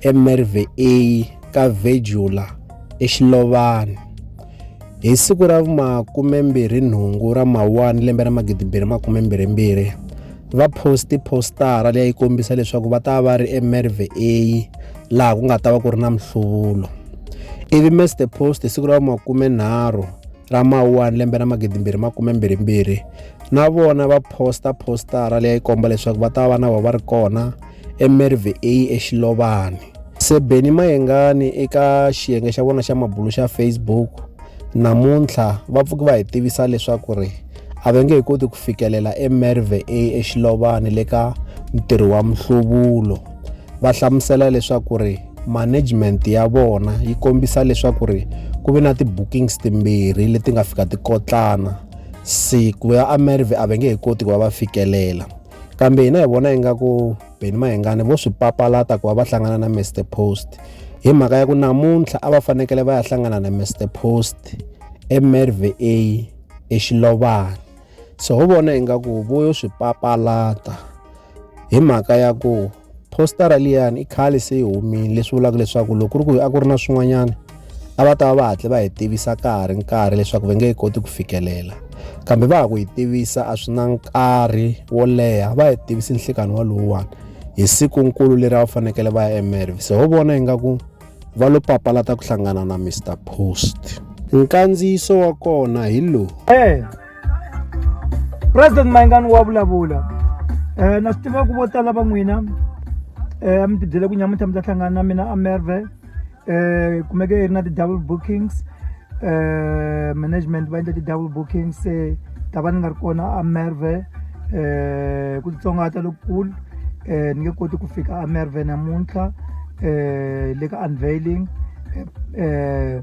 eMervey A ka Vedulla eXilovani. Hi siku ra vumakume-mbirhi-nhungu ra Mawuwani lembe ra magidi-mbirhi-makume-mbirhi-mbirhi, va poste positara leyi a yi kombisa leswaku va ta va ri eMervey A laha ku nga ta va ku ri na mihluvulo. Ivi Mr Post hi siku ra vumakume-nharhu ra Mawuwani lembe ra magidi-mbirhi-makume-mbirhi-mbirhi, na vona va posta positara leyi a yi komba leswaku va ta va na vona va ri kona eMervey A eXilovani. Sebeni Mayengani eka xiyenge xa vona xa mabulo xa Facebook namuntlha va pfuki va hi tivisa leswaku ri a va nge he koti ku fikelela eMerve A eXilovani le ka ntirho wa mihluvulo va hlamusela leswaku ri management ya vona yi kombisa leswaku ri ku ve na ti-bookings timbirhi leti nga fika ti kotlana siku ya amerve a va nge he koti ku va va fikelela kambe hina hi vona ingaku beni mahengani vo swi papalata ku va va hlangana na mr post hi mhaka ya ku namuntlha a va fanekele va ya hlangana na mr post emerva exilovana so ho vona ingaku vo yo swi papalata hi mhaka ya ku positara liyani i khale se yi humile leswi vulaka leswaku loko ku ri ku a ku ri na swin'wanyana a va ta va va hatle va hi tivisa ka ha ri nkarhi leswaku va nge yi koti ku fikelela kambe va ha ku yi tivisa a swi na nkarhi wo leha va hi tivisi nhlikani walowuwani hi siku nkulu leri a va fanekele va ya emerv se ho vona ingaku va lo papalata ku hlangana na mr post nkandziyiso wa kona hi lowu eh. president mayingani wa vulavula um na swi tiva ku vo tala va n'wina um mi tibyele ku nyamuntlha mi ta hlangana na mina amerve um kumeke yi ri na ti-double bookings um management va endla ti-double bookings se ta va ni nga ri kona amerve um ku titsongahata lokukulu um ni nge koti ku fika amerve namuntlha um le ka unveiling um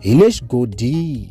hi le xigodini